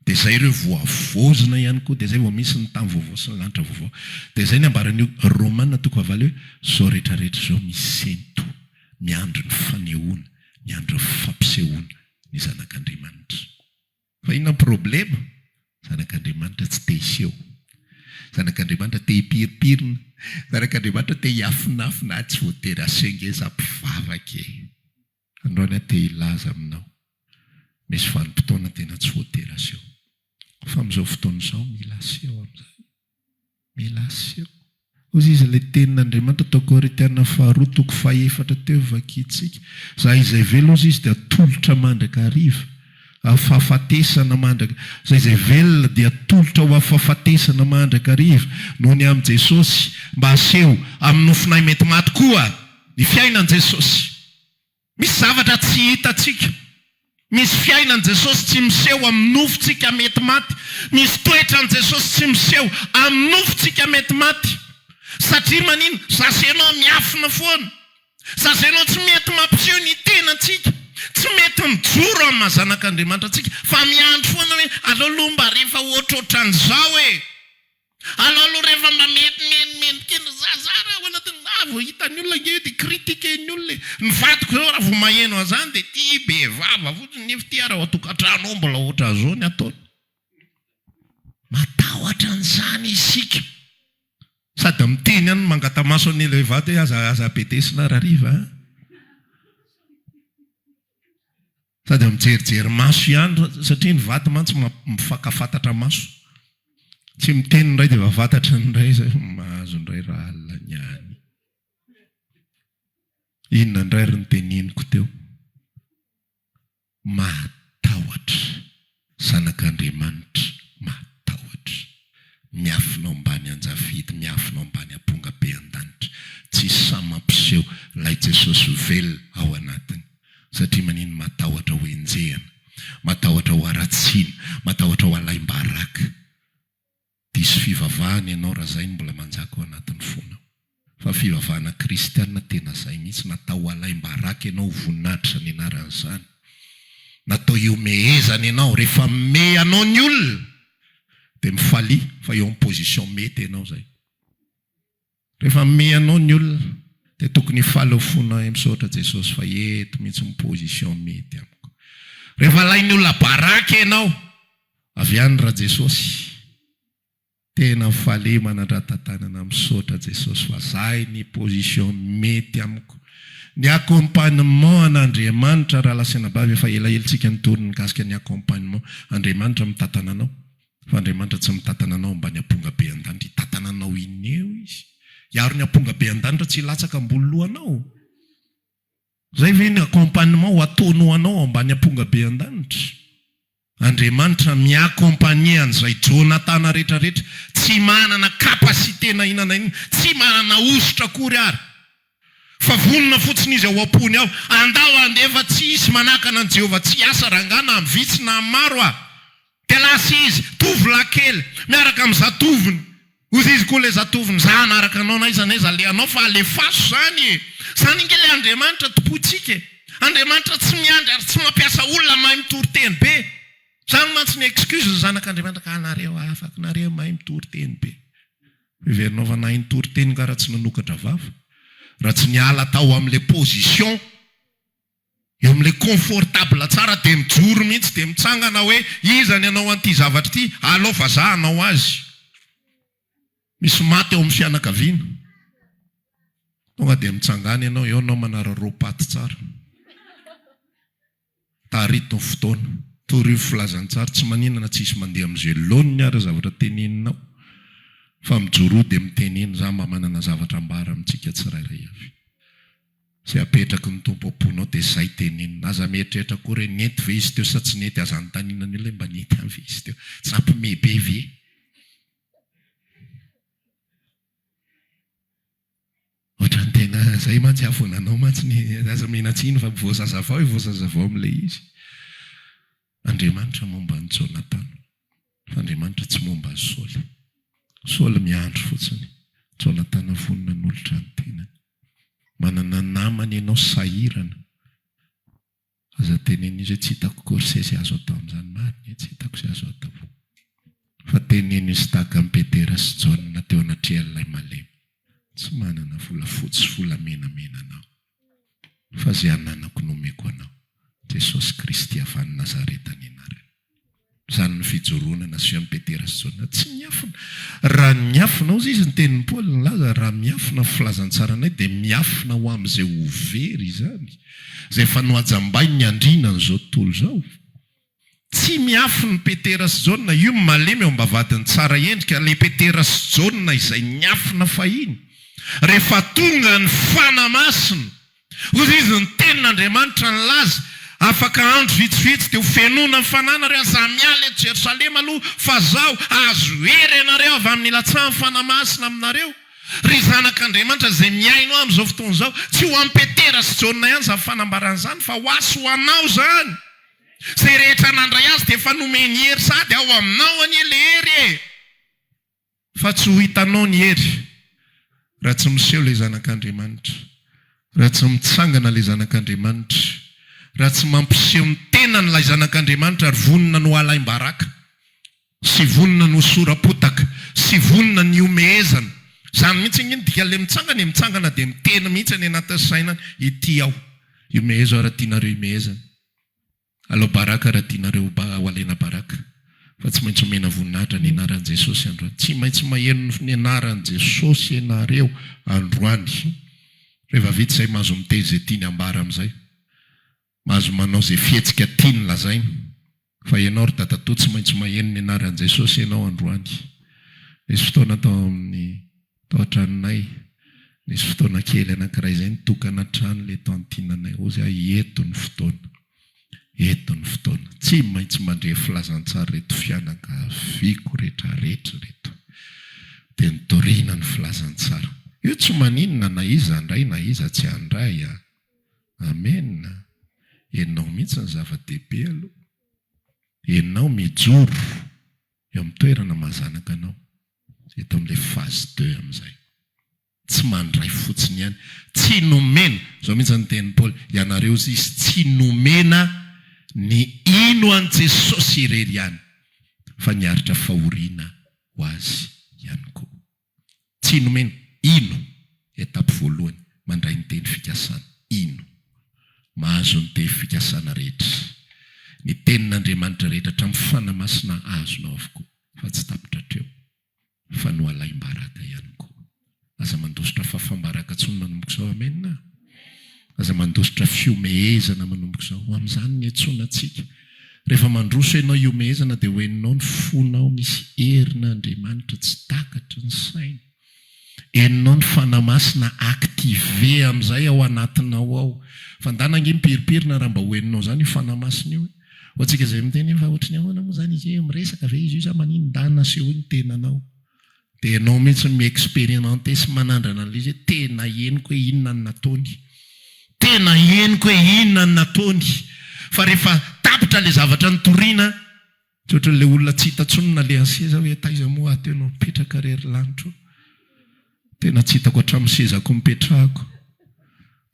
Dia izay ireo voavozona ihany koa, dia izay vao misy ny tany vaovao sy ny lanitra vaovao. Dia izay ny ambaran'io Romana toko fahavalo hoe, izao rehetra rehetra izao misento, miandry ny fanehoana, miandry ny fampisehoana ny zanak'Andriamanitra. Fa inona ny problema? Zanak'Andriamanitra tsy te hiseho. Zanak'Andriamanitra te hipirinpirina. Zanak'Andriamanitra te hiafinafina, ah tsy voatery asengeza mpivavaka e! Androany aho te hilaza aminao, misy vanim-potoana tena tsy voatery aseho. Fa amin'izao fotoana izao, mila aseho amin'izay. Mila aseho. Hoy izy, ilay Tenin'Andriamanitra, tao Korintiana Faharoa, toko fahefatra teo, vakintsika. Izay izay velona, hoy izy, dia atolotra mandrakariva, afafatesana mandrak-. Izay izay velona dia atolotra ho afafatesana mandrakariva, noho ny amin'i Jesosy, mba haseho, amin'ny nofonay mety maty koa. Ny fiainan'i Jesosy. Misy zavatra tsy hitantsika. Misy fiainan'i Jesosy tsy miseho amin'ny nofontsika mety maty. Misy toetran'i Jesosy tsy miseho amin'ny nofontsika mety maty. Satria manina? Za sy ianao miafina foana. Za sy ianao tsy mety mampiseho ny tenantsika. Tsy mety mijoro amin'ny maha zanak'Andriamanitra antsika. Fa miandry foana hoe aleo aloha mba rehefa ohatrohatran'izao e! Aleo aloha rehefa mamenomenomendrika eny ry zazah raha ao anatin'ny raha vao hitan'ny olona ange eo dia critiquer-ny olona e! Ny vadiko zao raha vao maheno an'izany dia tia bevava fotsiny nefa ity ary ao an-tokantrano ao mbola ohatran'izao ny ataony. Matahotra an'izany isika sady miteny ihany mangata-maso an'ilay vady hoe aza aza bedesina ary hariva a! Sady eo mijerijery maso ihany ra, satria ny vady mantsy mifakafatatra maso. Tsy miteny ny iray dia efa fantatry ny iray izay fa mahazo indray raha alina ny any. Inona indray ry noteniniko teo? Mahatahotra. Zanak'Andriamanitra mahatahotra, miafina ao ambany anjavidy, miafina ao ambany amponga be an-danitra. Tsy sahy mampiseho ilay Jesosy velona ao anatiny. Satria maninona? Matahotra ho enjehina, matahotra ho haratsiana, matahotra ho alaim-baraka. Diso fivavahana ianao raha zay no mbola manjaka ao anatin'ny fonao. Fa fivavahana kristiana tena zay mihitsy, natao ho alaim-baraka ianao, ho voninahitra ny anaran'izany. Natao hihomehezana ianao. Rehefa mimehy anao ny olona dia mifalia fa eo amin'ny position mety ianao zay. Rehefa mimehy anao ny olona dia tokony hifaly ao fona hoe misaotra Jesosy fa eto mihitsy ny position mety amiko. Rehefa alain'ny olona baraka ianao avy any ra Jesosy tena faly manandratatanana misaotra Jesosy fa zay ny position mety amiko. Ny accompagnement an'Andriamanitra Rahalasy anabavy efa elaela tsika nitory nikasika ny accompagnement Andriamanitra mitantana anao Fa Andriamanitra tsy mitatana anao ambany amponga be an-danitra, hitatana anao eny eo Izy. Hiaro ny amponga be an-danitra tsy hilatsaka ambony lohanao. Izay ve ny accompagnement ho ataony ho anao ambany amponga be an-danitra? Andriamanitra mi-accompagner an'izay Jonathan rehetra rehetra tsy manana capacité na inona na inona, tsy manana hosotra akory ary. Fa vonona fotsiny izy ao am-pony ao. Andao handefa tsy hisy manakana an'i Jehovah tsy hiasa rangahy na vitsy na maro aho. Dia lasa izy, tovolahy kely, miaraka amin'ny zatovony. Hozy izy koa ilay zatovony, Izaho hanaraka anao na aiza na aiza alehanao fa alefaso izany e! Izany ange ilay Andriamanitra tompointsika e! Andriamanitra tsy miandry ary tsy mampiasa olona mahay mitory teny be. Izany mantsy ny excuse ny zanak'Andriamanitra ka anareo afaka nareo mahay mitory teny be. Heverina fa nahay nitory teny nga raha tsy nanokatra vava? Raha tsy niala tao amle position eo amle confortable tsara de mijoro mihitsy de mitsangana hoe iza ny hanao an'ity zavatra ity? Alao fa za hanao azy! Misy maty ao amin'ny fianakaviana? Tonga de mitsangana ianao, eo anao manararaopaty tsara. Tarito ny fotoana. Torio ny filazantsary. Tsy manina na tsy hisy mandeha amin'izay laoniny ary ny zavatra teneninao, fa mijoro eo dia miteny eny. Izaho mba manana zavatra ambara amintsika tsirairay avy. Izay apetraky ny Tompo am-ponao dia izay tenenina. Aza mieritreritra akory hoe nety ve izy teo sa tsy nety. Aza anontaniana ny olona hoe mba nety ihany ve izy teo. Tsy nampiomehy be ve. Ohatran'ny tena zay mantsy aho vao nanao mantsy ny aza omena tsiny fa vao zazavao e vao zazavao amin'ilay izy. Andriamanitra momba an'i Jonatana fa Andriamanitra tsy momba an'i Saoly. Saoly miandry fotsiny, Jonatana vonona hanolotra ny tenany. Manana namana ianao sahirana Aza teneno izay tsy hitako corset sy azo atao amin'izany marina e, tsy hitako izay azo atao. Fa teneno i Stack amin'i Petera sy Jaona teo anatrehan'ilay malemy. Tsy manana volafotsy sy volamena menana aho. Fa izay ananako no omeko anao. Jesosy Kristy avy any Nazareta ny anarany. Izany ny fijoroana na Sion Petera sy Jaona tsy miafina. Raha niafina hozy izy ny tenin'i Paoly nilaza, raha miafina ny filazantsaranay dia miafina ho amin'izay ho very izany, izay efa nohajambain'ny andriana an'izao tontolo izao. Tsy miafina i Petera sy Jaona, io malemy eo am-bavahadin'ny tsara endrika, ilay Petera sy Jaona izay niafina fahiny, rehefa tonga ny Fanahy Masina. Hoy izy, Ny Tenin'Andriamanitra nilaza, Afaka andro vitsivitsy dia ho fenoina ny fananareo, aza miala eto Jerosalema aloha, fa izao, hahazo hery ianareo avy amin'ny ilatsahan'ny Fanahy Masina aminareo. Ry zanak'Andriamanitra izay mihaino ahy amin'izao fotoana izao, tsy ho an'i Petera sy Jaona ihany izany fanambarana izany, fa ho ahy sy ho anao izany. Izay rehetra nandray azy dia efa nomeny hery sady ao aminao anie ilay hery e! Fa tsy ho hitanao ny hery, raha tsy miseho ilay Zanak'Andriamanitra, raha tsy mitsangana ilay Zanak'Andriamanitra, raha tsy mampiseho ny tenany ilay Zanak'Andriamanitra ary vonona ny ho halaim-baraka, sy vonona ny ho sora-potaka, sy vonona ny hihomehezana. Izany mihitsy ange no dikan'ilay mitsangana e, mitsangana dia miteny mihitsy any anatin'ny sainany, Ity aho, ihomehezo ary tianareo hihomehezana. Alao Baraka raha tianareo ho ba, Walena Baraka. Fa tsy maintsy omena voninahitra ny anaran'i Jesosy androany. Tsy maintsy maheno ny anaran'i Jesosy ianareo androany. Reva vita izay mahazo miteny izay tiany ambara amin'izay. Mahazo manao izay fihetsika tiany lazaina. Fa ianao ry dadatoa tsy maintsy maheno ny anaran'i Jesosy ianao androany. Nisy fotoana tao amin'ny. Tao an-tranonay, nisy fotoana kely anankiray izay nitokana hatrany ilay tantinanay. Hozy aho, Eto ny fotoana. Eto ny fotoana. Tsy maintsy mandre filazantsara ireto fianakaviako rehetrarehetra ireto. Dia nitoriana ny filazantsara. Io tsy maninona na iza handray na iza tsy handray an! Amena! Ianao mihitsy no zava-dehibe aloha. Ianao mijoro eo amin'ny toerana maha zanaka anao. Eto amin'ilay phase deux amin'izay. Tsy mandray fotsiny ihany. Tsy nomena, izao mihitsy ny tenin'i Paoly, ianareo zisy tsy nomena ny hino an'i Jesosy irery ihany, fa niaritra fahoriana ho Azy ihany koa. Tsy nomena. Hino. Etape voalohany, mandray ny teny fikasana. Hino. Mahazo ny teny fikasana rehetra. Ny tenin'Andriamanitra rehetra hatramin'ny fanahy masina azonao avokoa. fa tsy tapitra hatreo fa nohalaim-baraka ihany koa. Aza mandositra fafam-baraka intsony manomboka izao. Amen! Aza mandositra fihomehezana manomboka izao. Ho amin'izany ny antsoina antsika. Rehefa mandroso ianao hihomehezana dia ho henonao ny fonao misy herin'Andriamanitra tsy takatry ny saina. Henonao ny Fanahy Masina activer amin'izay ao anatinao ao. Fandàna ange miperiperina raha mba ho henonao izany io Fanahy Masina io e. Ho antsika izay miteny hoe fa ohatry ny ahoana moa izany izy io e, miresaka ve izy io sa manino? Ndà nasehoy ny tenanao. Dia ianao mihitsy no mi-experimente sy manandrana an'ilay izy hoe tena henoko hoe inona ny nataony. Tena henoko hoe inona ny nataony. Fa rehefa tapitra ilay zavatra notorina. Dia ohatran'ilay olona tsy hita intsony nalehan'ny seza hoe taiza moa aho teo no nipetraka re ry lanitra o! Tena tsy hitako hatramin'ny sezako nipetrahako.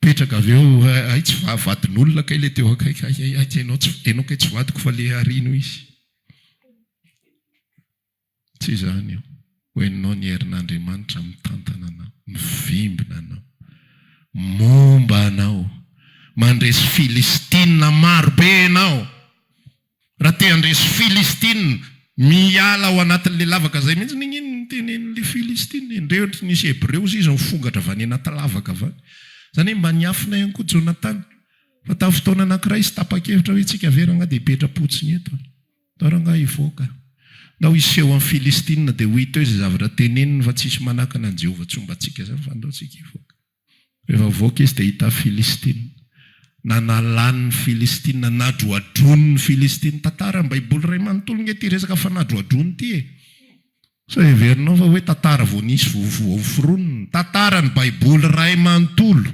Mipetraka avy eo, hay tsy vadin'olona kay ilay teo akaiky, hay hay hay, ianao kay tsy vadiko fa ilay aoriana hoy izy. Tsy izany io. Hoeninao ny herin'Andriamanitra mitantana anao, mivimbina anao, momba anao. Mandresy Filistina maro be ianao. Raha te handresy Filistina, miala ao anatin'ilay lavaka izay mihitsy. Ningino ny tenenin'ilay Filistina e. Ndreo ry nisy Hebreo hozy izy nifongatra avy any anaty lavaka avy any. Izany hoe mba niafina ihany koa Jonatana. Fa tamin'ny fotoana anankiray izy tapa-kevitra hoe, Tsika very angaha dia hipetra-potsiny eto aho. Ndao rangahy hivoaka. Ndao hiseho amin'ny Filistina dia ho hita eo izay zavatra teneniny fa tsisy manakana an'i Jehovah tsy homba antsika izany fa ndao tsika hivoaka. Rehefa hivoaka izy dia hita Filistina. Nanalany ny Filistina, nadroadroiny ny Filistina. Tantara ny Baiboly iray manontolo nge ity resaka fanadroadroana ity e. Sao heverinao fa hoe tantara vao nisy vao hoforonina? Tantara ny baiboly iray manontolo.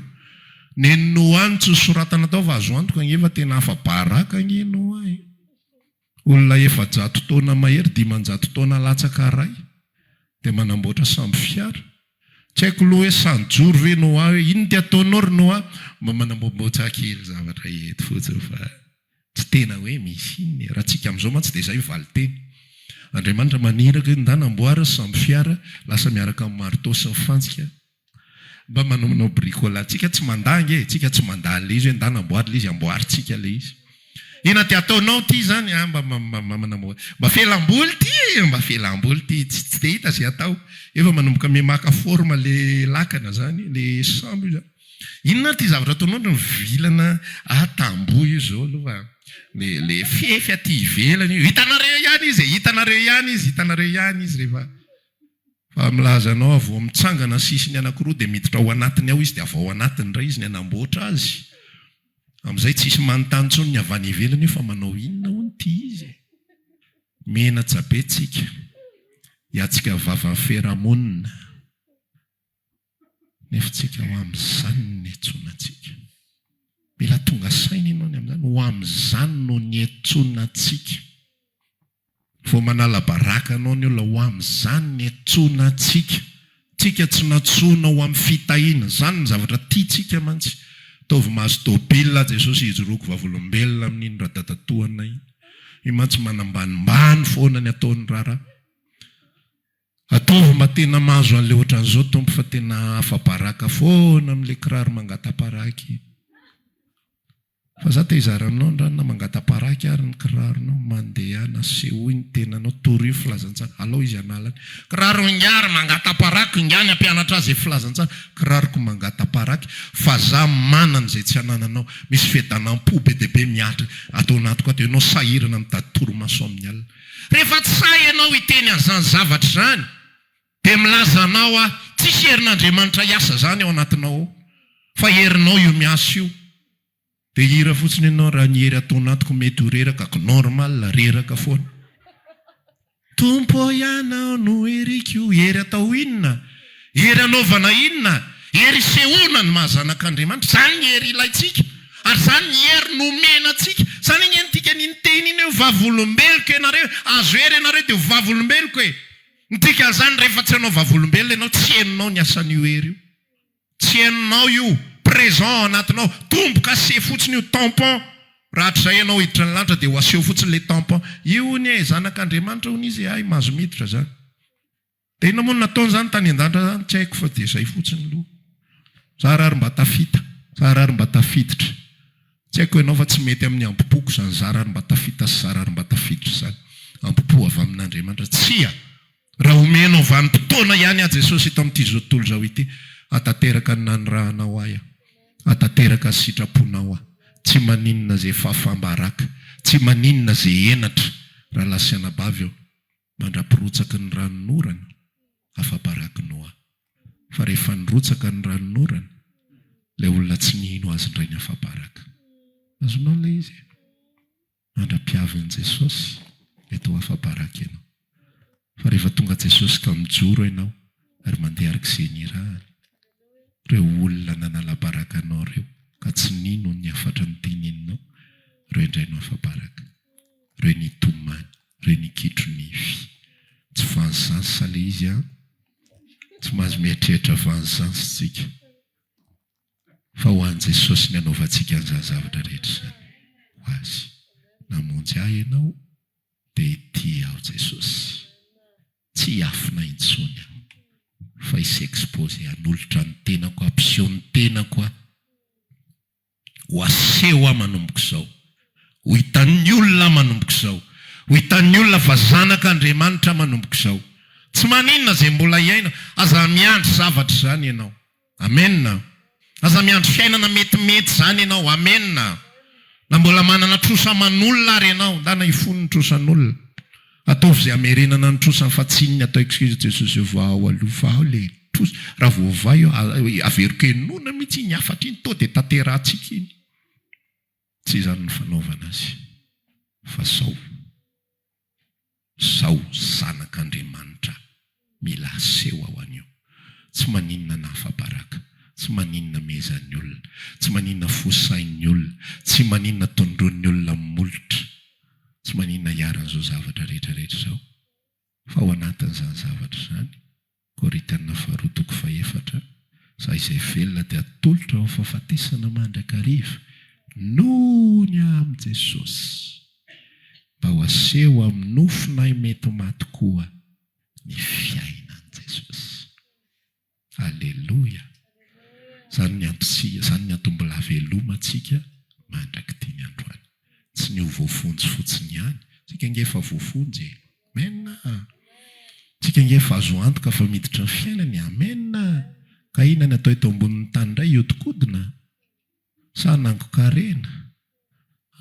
Nen'i Noa no tsy nosoratana tao fa azo antoka ange fa tena afa-baraka ange Noa e! Olona efajato taona mahery dimanjato taona latsaka iray dia manamboatra sambo fiara. Tsy haiko aloha hoe sa nijoro ve Noa hoe inona ity ataonao ry Noa? Mba manamboamboatsa kely zavatra eto fotsiny fa. Tsy tena hoe misy inona e. Raha tsika amizao mantsy dia izay valinteny. Andriamanitra maniraka hoe ndana amboara sambo fiara lasa miaraka amin'ny marteau sy ny fantsika mba manaonao bricolage. Tsika tsy mandà ange e. Tsika tsy mandà an'ilay izy hoe ndana amboary ilay izy, amboarintsika ilay izy. Inona dia ataonao ity izany? Ah mba manambola. Mba fialamboly ity e! Mba fialamboly ity. Tsy tsy dia hita izay atao. Efa manomboka mimaka forme ilay lakana izany, ilay sambo io izany. Inona ity zavatra ataonao ny vilana a tamboho io zao aloha le le fefy aty ivelany io hitanareo ihany izy e hitanareo ihany izy hitanareo ihany izy rehefa fa milaza anao vao mitsangana sisiny anakiroa de miditra ao anatiny ao izy de avy ao anatiny ndray izy ny hanamboatra azy amizay tsisy manontany tsony ny avy any ivelany io fa manao inona hono ity izy e menatsa be tsika hiatsika vava feramon Nefa tsika ho amin'izany niantsoana antsika. Mila tonga saina ianao ny amin'izany, ho amin'izany no niantsoana antsika. Vao manala baraka anao ny olona, ho amin'izany niantsoana antsika. Tsika tsy nantsoina ho amin'ny fitahiana, izany ny zavatra tiantsika mantsy. Ataovy mahazo tôbily aho Jesosy hijoroako vavolombelona amin'iny radadatoana iny. Io mantsy manambanimbany foana ny ataony raharaha. Ataovy mba tena mahazo an'le ohatran'izao Tompo fa tena afa-baraka foana amin'le kiraro mangata-paraky Fa za te hizara aminao ny ranona mangata-paraky ary ny kiraronao mandehana Asehoy ny tenanao Torio filazantsara Alao izy hanala ny kiraro ingahy ry mangata-parako Ingahy ny hampianatra azy filazantsara Kiraroko mangata-paraky Fa za manana izay tsy anananao Misy fedanam-po be dia be mihatra ato anatiko ato Ianao sahirana mitady torimaso amin'ny alina Rehefa tsy sahy ianao hiteny an'izany zavatra izany, dia milaza anao aho, tsisy herin'Andriamanitra hiasa izany ao anatinao ao, fa herinao io miasa io. Dia hira fotsiny ianao, raha ny hery ato anatiko mety ho reraka, ko normal, reraka foana. Tompo ô ianao no heriko, hery atao inona? Hery anaovana inona? Hery isehoana ny maha zanak'Andriamanitra. Izany ny hery ilaintsika, ary izany ny hery nomena antsika. Izany ange ny dikan'iny teny iny hoe ho vavolombeloko ianareo e! Azo hery ianareo dia ho vavolombeloko e! Ny dikan'izany, rehefa tsy hanao vavolombelona ianao, tsy henonao ny asan'io hery io. Tsy henonao io, présent ao anatinao. Tombo-kase fotsiny io, tampon. Rahatrizay ianao hiditra ny lanitra dia ho aseho fotsiny ilay tampon. Io honia e, zanak'Andriamanitra honia izy e, hay mahazo miditra izany. Dia inona moa no nataony izany tany an-danitra izany? Tsy haiko fa dia izay fotsiny lo. Za ra ry mba tafita, za ra ry mba tafiditra. Tsy haiko ianao fa tsy mety amin'ny ambo-poko izany za ra ry mba tafita sy za ra ry mba tafiditra izany. Ambo-po avy amin'Andriamanitra. Tsia! Raha omenao vanim-potoana ihany ahy Jesosy eto amin'ity izao tontolo izao ity, hatateraka ny nanirahanao ahy aho. Hatateraka ny sitraponao aho. Tsy maninona izay fahafaham-baraka. Tsy maninona izay henatra. Rahalahy sy anabavy ô! mandra-pirotsaky ny ranon'orana, afa-baraky Noa. Fa rehefa nirotsaka ny ranon'orana, ilay olona tsy nino Azy indray ny afa-baraka. Azonao ilay izy e? Mandra-piavin'i Jesosy, mety ho afa-baraka ianao. Fa rehefa tonga Jesosy ka mijoro ianao ary mandeha araka izay nirahany, ireo olona nanala-baraka anao ireo ka tsy nino ny hafatry ny tenininao, ireo indray no afa-baraka. re ny tomany re ny kitro nify tsy vengeance sa le izy an! tsy mahazo mieritreritra vengeance tsika fa ho an'i Jesosy ny anaovantsika an'izany zavatra rehetra izany ho azy namonjy ahy ianao dia tia aho Jesosy tsy hiafina intsony aho fa hi s'exposer hanolotra ny tenako hampiseho ny tenako aho Ho aseho aho manomboka izao. Ho hitan'ny olona aho manomboka izao. Ho hitan'ny olona fa zanak' Andriamanitra aho manomboka izao. Tsy maninona izay mbola hiaina, aza miandry zavatra izany ianao. Amena. Aza miandry fiainana metimety izany ianao. Amena. Na mbola manana trosa aman'olona ary ianao, ndana hifono ny trosan'olona. Ataovy izay hamerenana ny trosa fa tsy iny atao excuse Jesosy io vao ao aloha fa ao le trosa raha vao ovay eo averiko henoina mihitsy iny hafatra iny toa dia tanterahantsika iny tsy izany ny fanaovana azy fa sao sao zanak'Andriamanitra Mila aseho aho anio. Tsy maninona na afa-baraka. Tsy maninona miezahan'ny olona. Tsy maninona fo sain'ny olona. Tsy maninona tondroin'ny olona molotra. Tsy maninona iharan'izao zavatra rehetra rehetra izao. Fa ao anatin'izany zavatra izany, Korintiana Faharoa toko fahefatra, Za izay velona dia atolotra ho amin'ny fahafatesana mandrakariva noho ny ahy amin'i Jesosy, mba ho aseho amin'ny nofonay mety maty koa. ny fiainan'i Jesosy. Aleloia! Izany ny antontsika, izany ny antom-bola havelomantsika mandrak'ity ny androany. Tsy ny ho voafonjy fotsiny ihany, tsika ange efa voafonjy e! Amen a! Tsika ange efa azo antoka fa miditra ny fiainana e! Amen a! Ka inona ny atao eto ambonin'ny tany indray? Hihodinkodina? Sa hanangoka harena?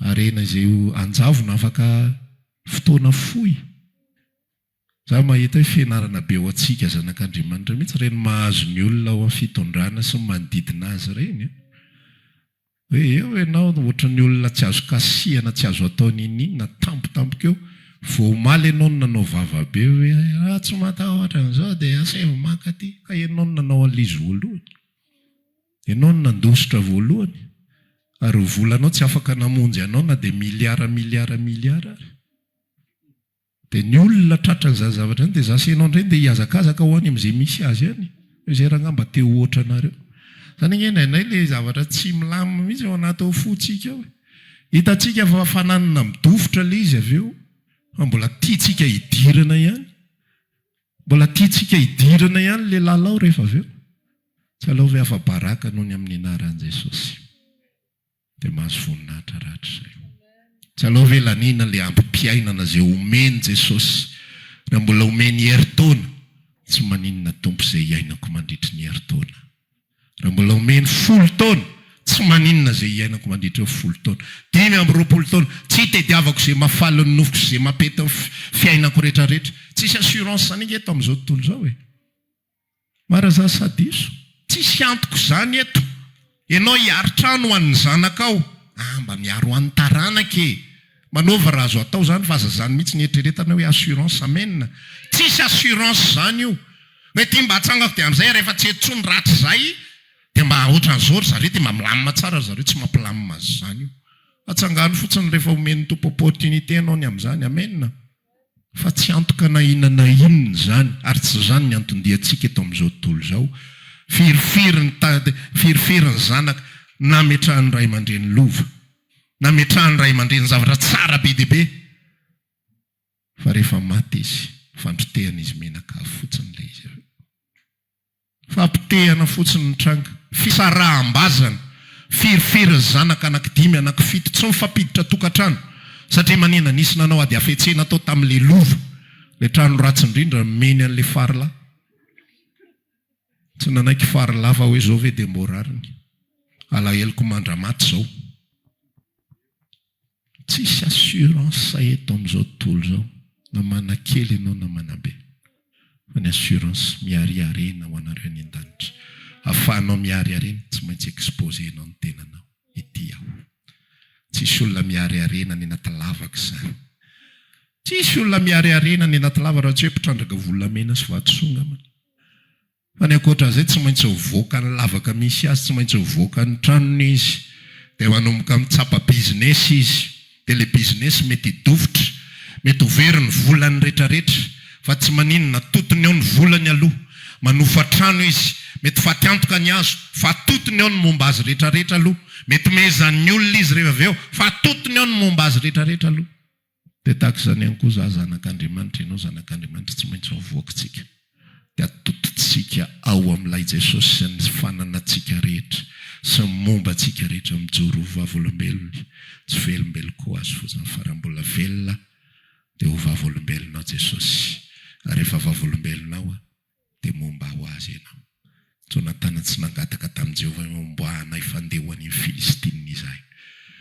Harena izay ho anjavona afaka fotoana fohy? Za mahita hoe fianarana be ho antsika zanak'Andriamanitra mihitsy ireny mahazo ny olona ao am fitondrana sy ny manodidina azy ireny an! Hoe eo ianao ohatran'ny olona tsy azo kasihana tsy azo atao niniana tampotampoka eo, vao omaly ianao no nanao vava be hoe raha tsy matahotra an'izao dia asaivo mankaty, ka ianao no nanao an'il'izy voalohany, ianao no nandositra voalohany, ary ny volanao tsy afaka namonjy anao na dia miliara miliara miliara ary. Dia ny olona tratra an'izany zavatra izany dia za sy ianao indray ndeha hihazakazaka ho any amin'izay misy azy any hoe izay rangahy mba te ho ohatranareo. Izany anie indraindray ilay zavatra tsy milamina mihitsy ao anaty ao fontsika ao e. Hitantsika fa fananana midofotra ilay izy avy eo fa mbola tiantsika hidirana ihany. Mbola tiantsika hidirana ihany ilay lalao rehefa avy eo. Tsy aleo ve afa-baraka noho ny amin'ny anaran'i Jesosy. Dia mahazo voninahitra rahatrizay. Tsy aleo ve laniana le ambim-piainana ze omeny Jesosy raha mbola omeny herintaona tsy maninona Tompo ze iainako mandritry ny herintaona raha mbola omeny folo taona tsy maninona ze iainako mandritry ny folo taona dimy amby roapolo taona tsy itediavako ze mafaly ny nofoko sy ze mapety ny fiainako retraretra tsisy assurance ange eto amizao tontolo zao e. Marazà sa diso? Tsisy antoko zany eto. Enao hiaro trano ho an'ny zanakao. Ah mba miaro an'ny taranaka e! Manaova raha azo atao zany fa aza zany mihitsy ny eritreretana hoe assurance amen! Tsisy assurance zany io! Hoe ty mba atsangako de amzay rehefa tsy eto tsony ratrizay de mba otran'zao ry zareo de mba milamina tsara ry zareo tsy mampilamima azy zany io! Atsangano fotsiny rehefa omen'ny Tompo opportunité anao ny amzany amen! Fa tsy antoka na inona na inona izany, ary tsy izany ny anton-diantsika eto amin'izao tontolo izao. Firifiry ny tady, firifiry ny zanaka nametrahan'ny ray aman-dreny lova, nametrahan'ny ray aman-dreny zavatra tsara be dia be, fa rehefa maty izy, fandrotehana izy mihinan-kazo fotsiny ilay izy avy eo. Fampitehana fotsiny ny tranga. Fisaraham-bazana. Firifiry ny zanaka anaky dimy, anaky fito. Tsy mifampiditra tokantrano. Satria manina, nisy nanao ady hafetsena tao tamin'ilay lova. Ilay trano ratsy indrindra nomeny an'ilay farilahy. Tsy nanaiky farilahy fa hoe izao ve dia mboa rariny. Alaheloko mandra-maty izao. Tsisy assurance eto amin'izao tontolo izao na mana kely ianao na mana be fa ny assurance miariarena ho anareo any an-danitra afahanao miariarena tsy maintsy exposer anao ny tenanao ity aho tsisy olona miariarena any anaty lavaka izany tsisy olona miariarena any anaty lavaka raha tsy hoe mpitrandraka volamena sy vatosoa angambany Fa ny ankoatra an'izay tsy maintsy mivoaka ny lavaka misy azy, tsy maintsy mivoaka ny tranony izy, dia manomboka mitsapa biziness izy, dia ilay biziness mety hidofotra, mety ho very ny volany retraretra, fa tsy maninona, atotony ao ny volany aloha, manofa trano izy, mety faty antoka ny azo, fa atotony ao ny momba azy retraretra aloha, mety mehezan'ny olona izy rehefa avy eo, fa atotony ao ny momba azy retraretra aloha. Dia tahaka izany ihany koa izaho zanak'Andriamanitra, ianao zanak'Andriamanitra, tsy maintsy avoakintsika, dia atodintsika ao amin'ilay Jesosy sy ny fananantsika rehetra sy ny momba antsika rehetra mijoro ho vavolombelony tsy velombelon ko azy fotsiny fa raha mbola velona dia ho vavolombelonao Jesosy ary rehefa vavolombelonao aho Dia momba aho azy ianao. Jonatana tsy nangataka tamin'i Jehovah hoe homba anay fa handeha ho an'iny Filistinina izahay.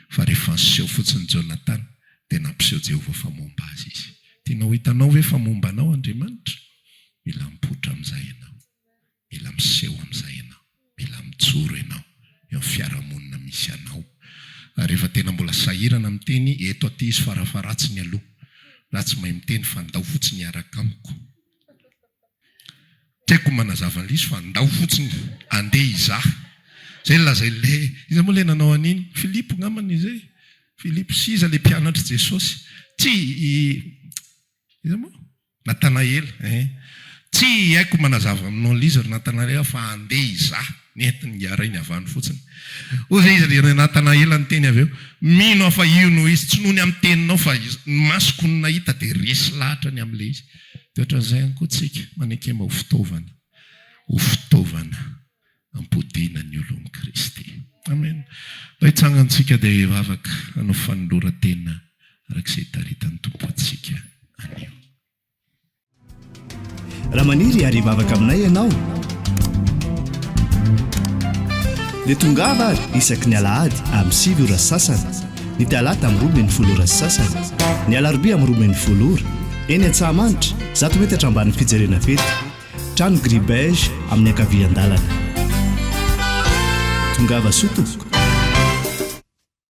Fa rehefa niseho fotsiny Jonatana, dia nampiseho Jehovah fa momba azy izy. Tianao ho hitanao ve fa momba anao Andriamanitra? Mila mipoitra amin'izay ianao. Mila miseho amin'izay ianao. Mila mijoro ianao eo amin'ny fiarahamonina misy anao. Ary efa tena mbola sahirana miteny eto aty izy, fara-faharatsiny aloha. Raha tsy mahay miteny, fa andao fotsiny hiaraka amiko. Tiako manazava an'liso fa ndao fotsiny andeha hizaha zay no lazain'le hoe iza moa le nanao an'iny? Filipo ngamba ny zay? Filipo sy iza le mpianatr'i Jesosy? Tsia i iza moa? Natanaela ein! Tsia haiko manazava aminao liza ry Natanaela fa andeha hizaha ny entiny ngaharainy avy any fotsiny. Hoy izy ry Natanaela niteny avy eo, mino aho fa io no izy, tsy noho ny amin'ny teninao fa ny masoko no nahita dia resy lahatra ny amin'le izy. Dia ohatran'izay ihany koa tsika, manekema ho fitaovana, ho fitaovana hampodiana ny olon'i Kristy. Amena. Mba hitsangantsika dia hivavaka hanao fanoloran-tena araka izay hitaritan'ny Tompo antsika anio.
Raha maniry ary hivavaka aminay ianao, dia tongava ary isaky ny alahady amin'ny sivy ora sasany. ny talata amin'ny roa ambin'ny folo ora sy sasany, ny alarobia amin'ny roa ambin'ny folo ora, eny Antsahamanitra, zato metatra ambanin'ny fijerena fety, trano gris beige amin'ny ankavian-dalana. Tongava soa tompoko.